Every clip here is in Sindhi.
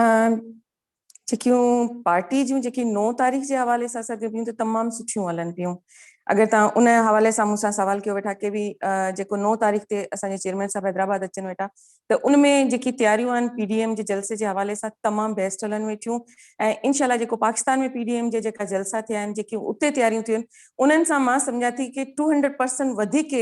۽ جيڪيون پارٽي جون جيڪي نو تاريخ جي حوالي سان سرگرميون ته تمام سٺيون هلن پيون اگر توهان ان حوالي سان مون سان سوال ڪيو ويٺا ڪي به جيڪو نو تاريخ تي اسان جي چيئرمين صاحب حيدرآباد اچن ويٺا ته ان ۾ جيڪي تياريون آهن پي ڊي ايم جي جلسي جي حوالي سان تمام بيسٽ هلن ويٺيون ۽ انشاء الله جيڪو پاڪستان ۾ پي ڊي ايم جي جيڪا جلسا ٿيا آهن جيڪي اتي تياريون ٿيون انهن سان مان سمجهان ٿي ڪي ٽو هنڊريڊ پرسنٽ وڌيڪ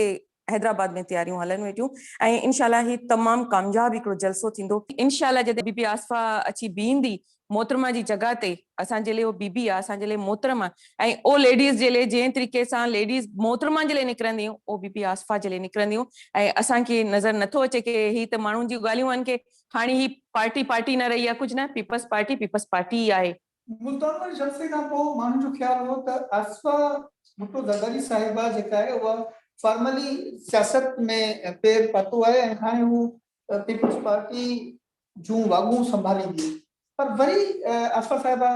حيدرآباد ۾ تياريون هلن ويٺيون ۽ انشاء الله هي تمام ڪامياب هڪڙو جلسو ٿيندو. انشاء الله جڏهن بي بي آصفه اچي بيهندي محترمه جي جڳهه تي اسان جي لئه اهو بي بي آ اسان جي لئه محترمه ۽ اهو ليڊيز جي لئه جنهن طريقي سان ليڊيز محترمه جي لئه نڪرنديون اهو بي بي آصفه جي لئه نڪرنديون ۽ اسان کي نظر نٿو اچي ڪي هي ته ماڻهن جون ڳالهيون آهن ڪي هاڻي هي پارٽي پارٽي نه رهي آ ڪجهه نه پيپلز پارٽي پيپلز پارٽي ئي آهي ملتان جلسي کان پوء ماڻهن جو خيال هو ته آصفه ڀٽو زرداري صاحبه جيڪا آهي اها فارملي سياست ۾ پير پاتو آهي ۽ هاڻي هو پيپلز پارٽي جون واڳون سنڀاليندي پر وري آصفه صاحبه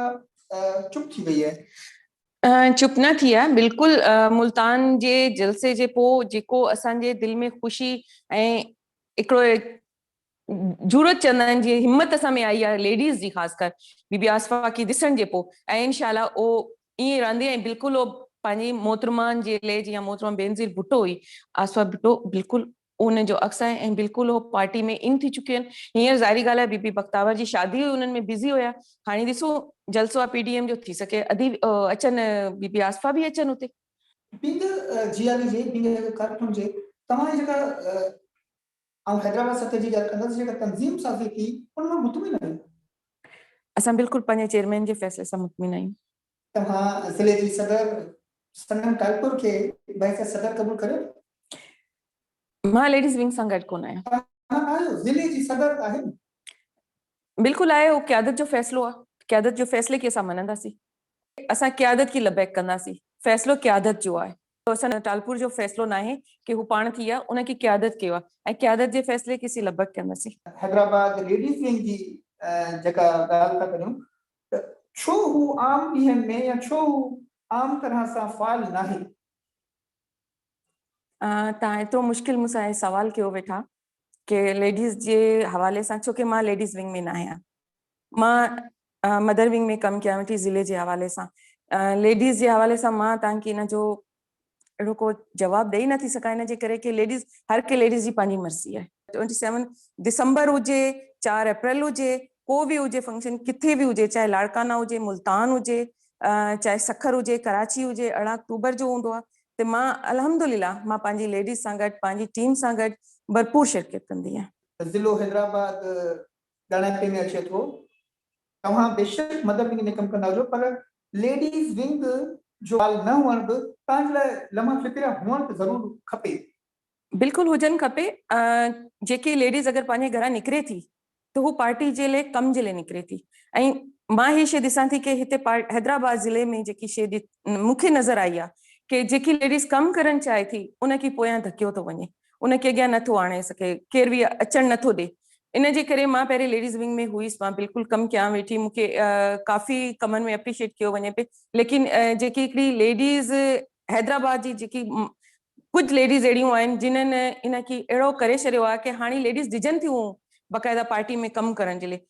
چپ ٿي وئي آهي. چپ نه ٿي آهي بلڪل ملتان جي جلسي جي پوء جيڪو اسان جي دل ۾ خوشي ۽ هڪڙو جرئت چندن جي همت اسان ۾ آئي آهي ليڊيز جي خاص ڪر بي بي آصفه کي ڏسڻ جي پوء ۽ انشاء الله اهو ائين رهندي ۽ بلڪل اهو پنهنجي محترمن جي لئه جيئن محترمه بينظير ڀٽو هئي آصفه ڀٽو بلڪل ان جو عڪس آهي ۽ بلڪل اهو پارٽي ۾ ان ٿي چڪيون آهن هينئر ظاهري ڳالهه آهي بي بي بختاور جي شادي هئي انهن ۾ بزي هيا هاڻي ڏسو جلسو آهي پي ڊي ايم جو ٿي سگهي ادي اچن بي بي آصفه به اچن اتي. پينگهه جياري جي پينگهه هڪ ڪرپ هجي توهان جي جيڪا آئون حيدرآباد سطح جي ڳالهه ڪندس جيڪا تنظيم سازي ٿي ان مان مطمئن آهيون. اسان بلڪل پنهنجي چيئرمين جي فيصلي سان مطمئن آهيون. توهان ضلعي جي صدر سنگم ٽالپور کي بحيثيت صدر قبول ڪريو ٿا؟ مان ليڊيز ونگ سان گڏ ڪونه آهيان. توهان نه آهيو، ضلعي جي صدر آهن. بلڪل آهي، اهو قيادت جو فيصلو آهي، قيادت جي فيصلي کي اسان مڃنداسين. اسان قيادت کي لبيڪ ڪنداسين، فيصلو قيادت جو آهي. ته حسن ٽالپور جو فيصلو ناهي ڪي هو پاڻ ٿي يا ان ڪي قيادت ڪيو آهي ۽ قيادت جي فيصلي ڪي سي لبڪ ڪندسين. حيدرآباد ليڊيز ونگ جي جيڪا ڳالهه ٿا ڪريون ته ڇو هو عام ڏينهن ۾ يا ڇو هو عام طرح سان فعال ناهي. توهان ايترو مشڪل مون سان هي سوال ڪيو ويٺا ڪي ليڊيز جي حوالي سان ڇو ڪي مان ليڊيز ونگ ۾ نه آهيان مان مدر ونگ ۾ ڪم ڪيان ويٺي ضلعي جي حوالي سان ليڊيز جي حوالي سان مان تان کي ان جو اهڙو ڪو جواب ڏئي نه ٿي سگهان ان جي ڪري ڪي ليڊيز هر ڪي ليڊيز جي پنهنجي مرضي آهي 27 دسمبر هجي 4 اپريل هجي ڪو به هجي فنڪشن ڪٿي به هجي چاهي لاڙڪانا هجي ملتان هجي چاهي سکر هجي ڪراچي هجي ارڙهن اڪتوبر جو هوندو آهي تي مان الحمدلله مان پنهنجي ليڊيز سان گڏ پنهنجي ٽيم سان گڏ ڀرپور شرڪيت ڪندي آهيان. ضلعو حيدرآباد ڳاڻياپي ۾ اچي ٿو. توهان بيشڪ مدر ونگ ۾ ڪم ڪندا هجو پر ليڊيز ونگ جو بال نه هئڻ به توهان جي لاء لمحه فڪريا هئڻ ته ضرور کپي. بلڪل هجن کپي جيڪي ليڊيز اگر پنهنجي گهران نڪري ٿي ته هو پارٽي جي لئي ڪم جي لئي نڪري ٿي ۽ مان هي شي ڏسان ٿي ڪي هتي حيدرآباد ضلعي ۾ جيڪي شي مون کي نظر آئي آ ڪي جيڪي ليڊيز ڪم ڪرڻ چاهي ٿي ان کي پويان ڌڪيو ٿو وڃي ان کي اڳيان نه ٿو آڻي سگهي ڪير به اچڻ نه ٿو ڏي ان جي ڪري مان پهرين ليڊيز ونگ ۾ هئيس مان بلڪل ڪم ڪيان ويٺي مون کي ڪافي ڪمن ۾ اپريشيٽ ڪيو وڃي پي ليڪن جيڪي هڪڙي ليڊيز حيدرآباد جي جيڪي ڪجهه ليڊيز اهڙيون آهن جنهن ان کي اهڙو ڪري ڇڏيو آهي ڪي هاڻي ليڊيز ڊڄن ٿيون باقاعده پارٽي ۾ ڪم ڪرڻ جي لئي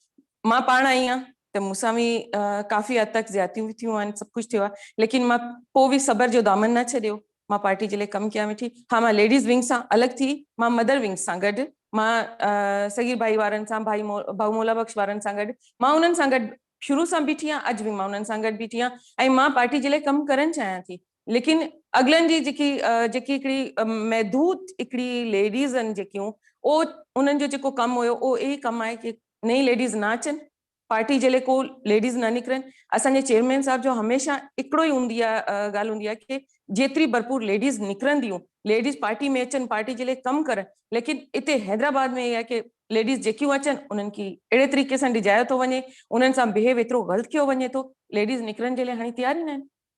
مان پاڻ آئي آهيان ته مون سان به ڪافي حد تڪ زيادتيون به ٿيون آهن سڀ ڪجهه ٿيو آهي ليڪن مان پوء به صبر جو دامن نه ڇڏيو مان پارٽي جي لئي ڪم ڪيان ويٺي ها مان ليڊيز ونگ سان الڳ ٿي مان مدر ونگز سان گڏ مان صغير ڀائي وارن سان ڀائي ڀائو مولا بخش وارن سان گڏ مان انهن سان گڏ شروع سان بيٺي آهيان اڄ به مان انهن سان گڏ بيٺي آهيان ۽ مان پارٽي جي لئي ڪم ڪرڻ چاهيان ٿي ليڪن اڳلن جي جيڪي جيڪي هڪڙي محدود هڪڙي ليڊيز آهن جيڪيون او انهن جو جيڪو ڪم هيو او اهي ڪم آهي ڪي نئين ليڊيز نه اچن پارٽي جي لئي ڪو ليڊيز نه نڪرن اسان جي چيئرمين صاحب جو هميشه هڪڙو ئي هوندي آهي ڳالهه هوندي آهي ڪي جيتري ڀرپور ليڊيز نڪرنديون ليڊيز پارٽي ۾ اچن پارٽي جي لئي ڪم ڪرن ليڪن اتي حيدرآباد ۾ اهي آهي ڪي ليڊيز جيڪيون اچن انهن کي اهڙي طريقي سان ڊجايو ٿو وڃي انهن سان بهيو ايترو غلط ڪيو وڃي ٿو ليڊيز نڪرن جي لئي هاڻي تيار ئي نه آهن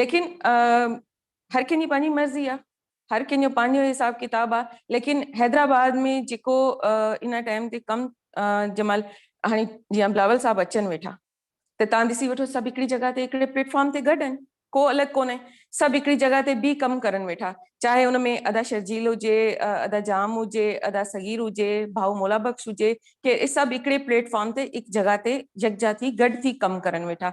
ليڪن هر ڪنهن جي پنهنجي مرضي آ هر ڪنهن جو پنهنجو حساب ڪتاب آ ليڪن حيدرآباد ۾ جيڪو ان ٽائيم تي ڪم جنهن مهل هاڻي جيئن بلاول صاحب اچن ويٺا ته تان ڏسي وٺو سڀ هڪڙي جڳهه تي هڪڙي پليٽ فارم تي گڏ آهن ڪو الڳ ڪونهي سڀ هڪڙي جڳهه تي بي ڪم ڪرن ويٺا چاهي ان ۾ ادا شرجيل هجي ادا جام هجي ادا صغير هجي ڀائو مولا بخش هجي ڪي سڀ هڪڙي پليٽ فارم تي هڪ جڳهه تي يڪجا ٿي گڏ ٿي ڪم ڪرن ويٺا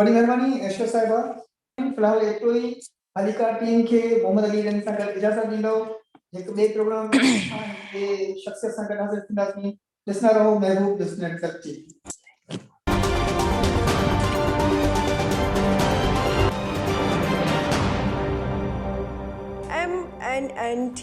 وڏي مھرباني ايشور صاحبه. في الحال ايترو ئي. هليڪار ٽيم کي محمد علي رند سان گڏ اجازت ڏيندؤ. هڪ ٻئي پروگرام ۾ اسان هڪ ٻئي شخصيت سان گڏ حاضر ٿينداسين. ڏسندا رهو Mehboob business network T V. M N N ٽي.